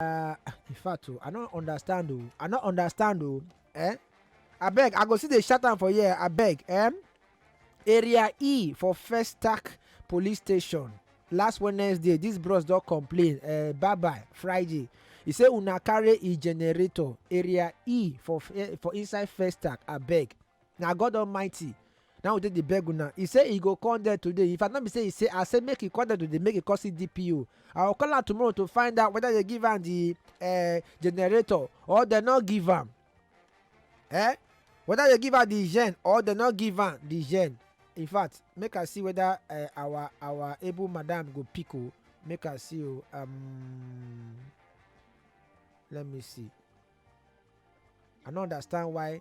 Uh, in fact, oh, I don't understand. Oh. I don't understand. Oh. Eh? I beg. I go see the shut down for here. I beg. Eh? Area E for First Tack Police Station. Last Wednesday, this bros don't complain. Uh, bye bye. Friday. He say una carry e generator area E for eh, for inside First Tack. I beg. Now God Almighty. Na we take dey beg una. He say he go come there today. If I no be say he say I say make he come there today make he come see DPO. I go call am tomorrow to find out whether they give am the eh, generator or they no give am. Eh? Whether they give am the gen or they no give am the gen. In fact, make I see whether eh, our our able madam go pick o. Make I see o. Um, let me see. I no understand why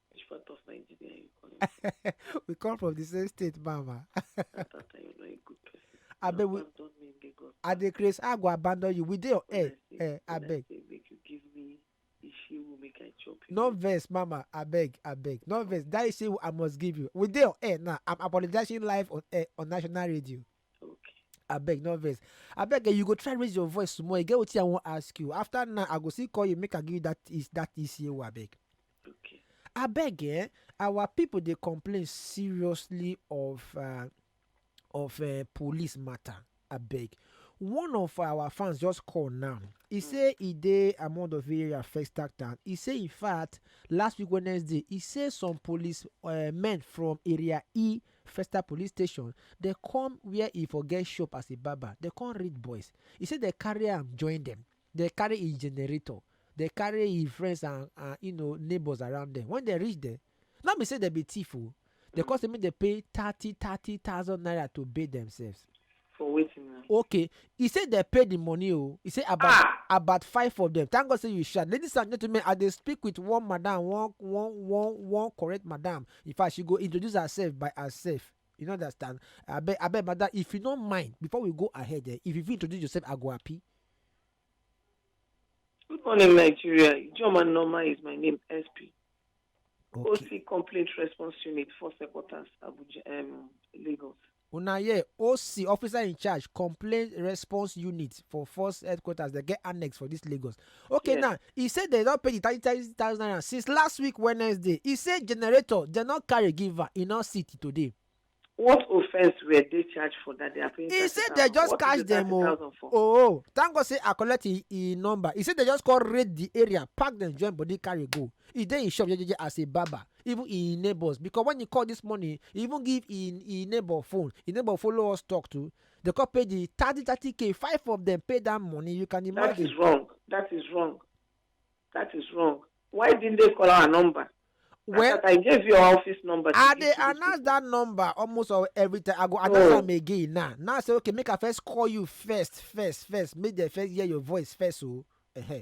Which part of Nigeria you calling? we come from the same state, Mama. I thought I was a good person. I beg we. I dey craze. I go abandon you. We dey your air. Eh, I beg. Make you give me issue. Will make I chop you. No verse, Mama. I beg. I beg. No verse. That issue I must give you. We dey your air now. I'm apologizing live on air on national radio. Okay. abeg no vex abeg eh, you go try raise your voice small e get wetin i wan ask you after now i go still call you make i give you that is that ecao abeg Okay. abeg eh our people dey complain seriously of uh, of uh, police matter abeg one of our fans just call now he say he dey among of area first act town he say in fact last week wednesday he say some police uh, men from area e Festa police station, dem come wia e for get shop as a barber, dem come rape boys. E say dem carry am join dem, dem carry im generator, dem carry im friends and and you know neighbours around dem. Wen dem reach dem, no be say dem be thief o, dem come say make dem pay thirty thirty thousand naira to bail demsefs. for wetin na. okay e say dem pay the money o e say about Ah! about five of them thank god say you shout ladies and gentlemen i dey speak with one madam one one one one correct madam in fact she go introduce herself by herself you no understand abeg abeg madam if you no mind before we go ahead eh, if you fit introduce yourself i go happy Good morning, Nigeria. Joma Norma is my name, SP. okay OC Complaint Response Unit, Four Secretars, Abuja, um, Lagos. Una hear, OC, Officer in Charge, Complaint Response Unit for Force Headquarters, dem get annex for dis Lagos. Okay Yes. now, e say dem don pay di thirty thirty thousand naira since last week Wednesday. E say generator dem no carry give am, e no see till today. What offence were they charged for that they are paying He said they 30,000? just What is catch the them, oh. 30,000 for? Oh, thank God say I collect e e number. E say dem just come raid di area, pack dem join body carry go. E dey im shop jejeje as a barber. even im neighbors because when he call this morning he even give im im neighbor phone im neighbor follow us talk too they come pay the thirty thirty k five of them pay that money you can That imagine is wrong. That is wrong. That is wrong. Why didn't they call our number? Well, well I gave you our office number. to i give dey to these announce people. that number almost al- every time i go announce No. am again now now i say okay make i first call you first first first make dem first hear your voice first o. Oh.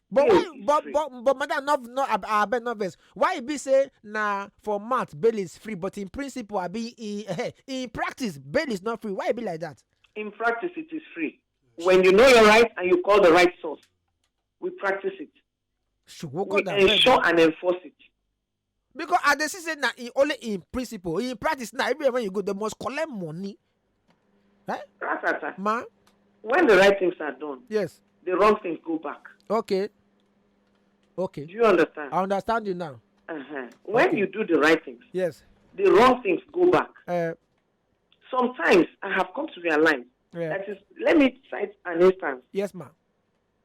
but why but but but madam no no abeg no vex why e be say na for mouth bail is free but in principle abi in eh, in practice bail is not free why e be like that. in practice it is free when you know your right and you call the right source we practice it ṣùgbọ́n we kọ́ da ensure and enforce it because i dey see say na im only im principle im practice na everywhere when you go they must collect money eh Ratata. ma When the right things are done, yes the wrong things go back. okay okay Do you understand? i understand you now Uh-huh. When Okay. you do the right things, yes the wrong things go back. uh, Sometimes I have come to realize yeah. that is, let me cite an instance. yes ma